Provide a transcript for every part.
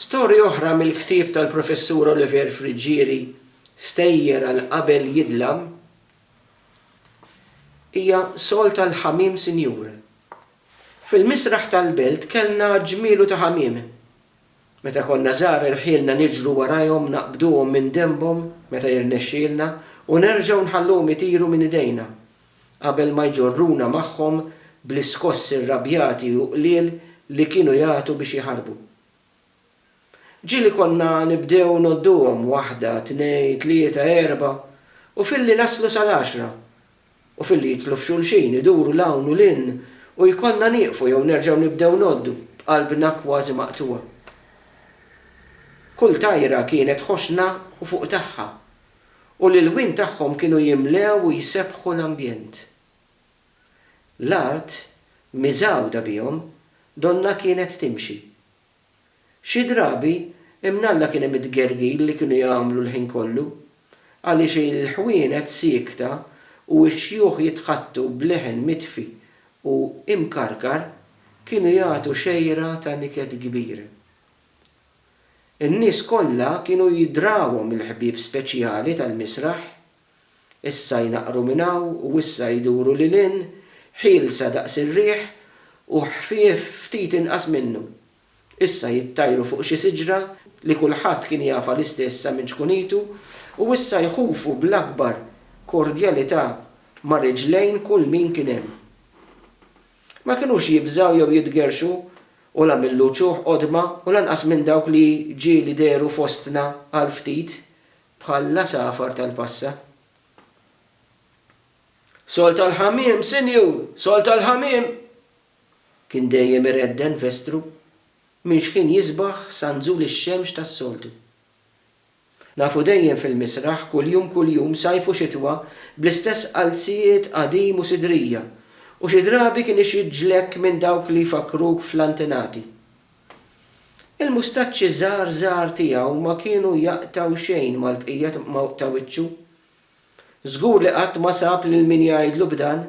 Storja oħra mill-ktieb tal-Professur Olivier Friggieri, Stejjer għal qabel jidlam, hija sol tal-ħamiem sinjur. Fil-misraħ tal-belt kellna ġmielu ta' ħamiem. Meta konna żgħar irħielna niġru warajhom naqbduhom minn denbhom meta jirnexxielna u nerġgħu nħalluhom itiru minn idejna. qabel ma jġorruna magħhom bl-iskossi rrabjati u qliel li kienu jagħtu biex jaħarbu. Ġieli konna nibdew ngħodduhom, waħda, tnejn, tlieta, erbgħa, u filli naslu sal-għaxra, u filli jidħlu f'xulxin, iduru 'l hawn u 'l hinn, u jkollna nieqfu jew nerġgħu nibdew ngħoddu, b'qalbna kważi maqtugħa. Kull tajra kienet ħoxna u fuq tagħha, u l-ilwien tagħhom kienu jimlew u jsebbħu l-ambjent. L-art, miżgħuda bihom, donnha kienet timxi. Xi drabi, imnalla kien hemm it-tgergir li kienu jagħmlu l-ħin kollu, għaliex il-ħwienet siekta u x-xjuħ jitħaddtu b'leħen mitfi u imkarkar kienu jagħtu xejra ta' niket kbir. In-nies kollha kienu jidrawhom il-ħbieb speċjali tal-misraħ. Issa jnaqqru minn hawn u issa jduru lil hinn, ħielsa daqs ir-riħ u ħfief ftit inqas minnu. Issa jittajru fuq xi siġra li kulħadd kien jafha l-istess sa minn ċkunitu u issa jħufu bl-akbar kordjalità ma' riġlejn kull min kien hemm. Ma kinux jibżgħu jew jitgerrxu u la mill-uċuħ qodma u lanqas minn dawk li ġieli dehru fostna għal ftit bħal l-għasafar tal-passa. Sol tal-ħamiem, sinjur! Sol tal-ħamiem! kien dejjem iredden Vestru minn xħin jisbaħ sa nżul ix-xemx tas-soltu. Nafu dejjem fil-misraħ kuljum kuljum sajf u xitwa bl-istess qalzijiet qadim u sidrija u xi drabi kien ixidġlek minn dawk li jfakkruk fl-antenati. Il-mustaċċi żgħar żgħar tiegħu ma kienu jaqtgħu xejn mal-bqija ta' wiċċu. Żgur li qatt ma sab lil min jgħidlu b'dan.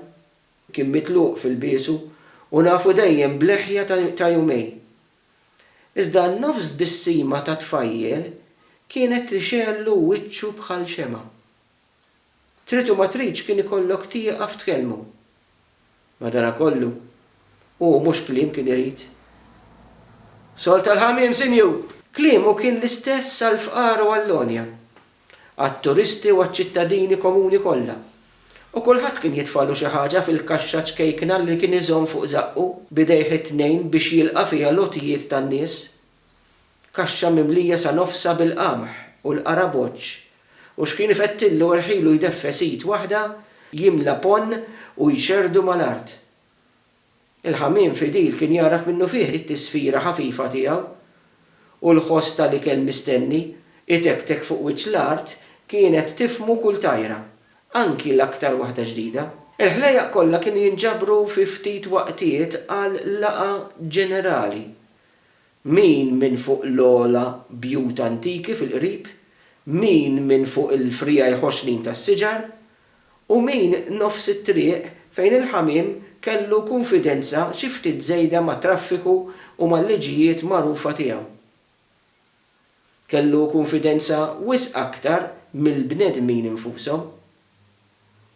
Kien mitluq f'ilbiesu u nafu dejjem b'leħja ta' jumej. Iżda n-nofs tbissima ta' tfajjel kienet li xegħellu wiċċu bħal xemgħa. Trid u ma tridx kien ikollok tieqaf tkellmu. Madanakollu, hu mhux kliem kien irid. Sol tal-ħamiem, sinjur! Kliemu kien l-istess għall-fqar u għall-għonja. għat-turisti u għaċ-ċittadini komuni kollha, u kulħadd kien jitfagħlu xi ħaġa fil-kaxxa ċkejkna li kien iżomm fuq żaqqu b'idejh it-tnejn biex jilqa' fiha l-għotjiet tan-nies. Kaxxa mimlija sa nofsha bil-qamħ u l-qaraboċċ, u x'kien ifettillu irħilu jdeffes id waħda jimla ponn u jxerrdu mal-art. Il-ħamiem fidil kien jagħraf minnufih it-tisfira ħafifa tiegħu, u l-ħoss ta' l-ikel mistenni itektek fuq wiċċ l-art kienet tifhmu kull tajra, anki l-aktar waħda ġdida. Il-ħlejjaq kollha kienu jinġabru fi ftit waqtiet għal laqgħa ġenerali. Min minn fuq l-ogħla bjut antiki fil-qrib, min minn fuq il-friegħi ħoxnin tas-siġar, u min nofs it-triq fejn il-ħamiem kellu kunfidenza xi ftit żejda mat-traffiku u mal-liġijiet magħrufa tiegħu. Kellu kunfidenza wisq aktar mill-bnedmin infushom.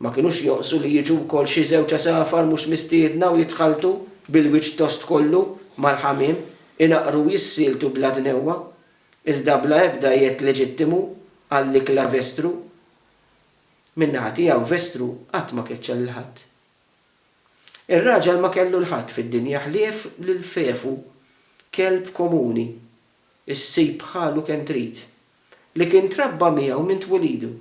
Ma kinux jonqsu li jiġu wkoll xi żewġ għasafar mhux mistiedna u jitħalltu, bil-wiċċ tost kollu, mal-ħamiem, inaqqru u jissieltu bla dnewwa, iżda bla ebda jedd leġittimu għall-ikla vestru. Min-naħa tiegħu Vestru qatt ma keċċa lil ħadd. Ir-raġel ma kellu 'l ħadd fid-dinja ħlief lil Fefu, kelb komuni, issib bħalu kemm trid, li kien trabba miegħu minn twilidu.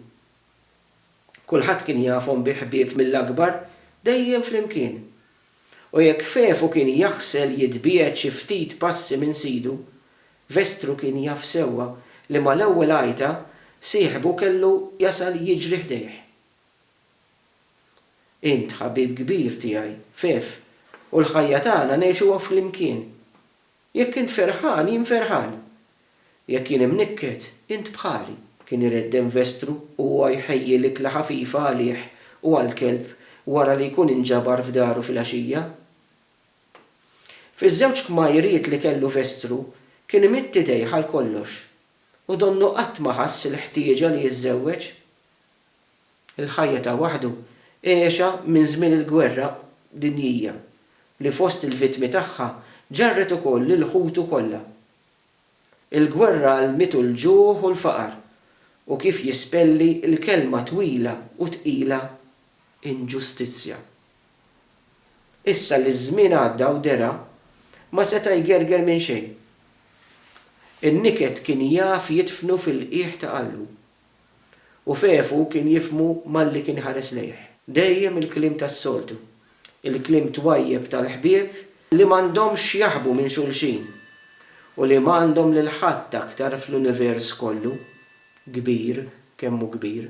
Kulħadd kien jafhom bi ħbieb mill-akbar, dejjem flimkien. U jekk Fefu kien jaħsel jitbiegħed xi ftit passi minn sidu, Vestru kien jaf sewwa li mal-ewwel għajta sieħbu kellu jasal jiġri ħdejh. Int ħabib kbir tiegħi, Fef, u l-ħajja tagħna ngħixuha flimkien. Jekk int ferħan, jien ferħan. Jekk jien imnikket, int bħali. Kien iredden Vestru u huwa jħejji l-ikla ħafifa għalih u għall-kelb wara li jkun inġabar f'daru filgħaxija. Fiż-żewġ kmajriet li kellu f'Estru kien imidd idejh għal kollox u donnu qatt ma ħass il-ħtieġa li jiżżewweġ. Il-ħajja ta' waħdu għexha minn żmien il-Gwerra Dinjija li fost il-vittmi tagħha ġarret ukoll lil ħutu kollha. Il-gwerra għallmitu l-ġuħ u l-faqar u kif jispelli l-kelma twila u tqila inġustizzja. Issa li ż-żmien għadda u dera, ma seta' jgerger minn xejn. In-niket kien jaf jidfnu fil-qiegħ ta' qalbu. U f'għefu kien jifhmu malli kien ħares lejh. Dejjem il-kliem tas-soltu. Il-kliem twajjeb tal-ħbieb li m'għandhomx x'jaħbu minn xulxin u li m'għandhom lil ħadd aktar fl-univers kollu, kbir kemm hu kbir.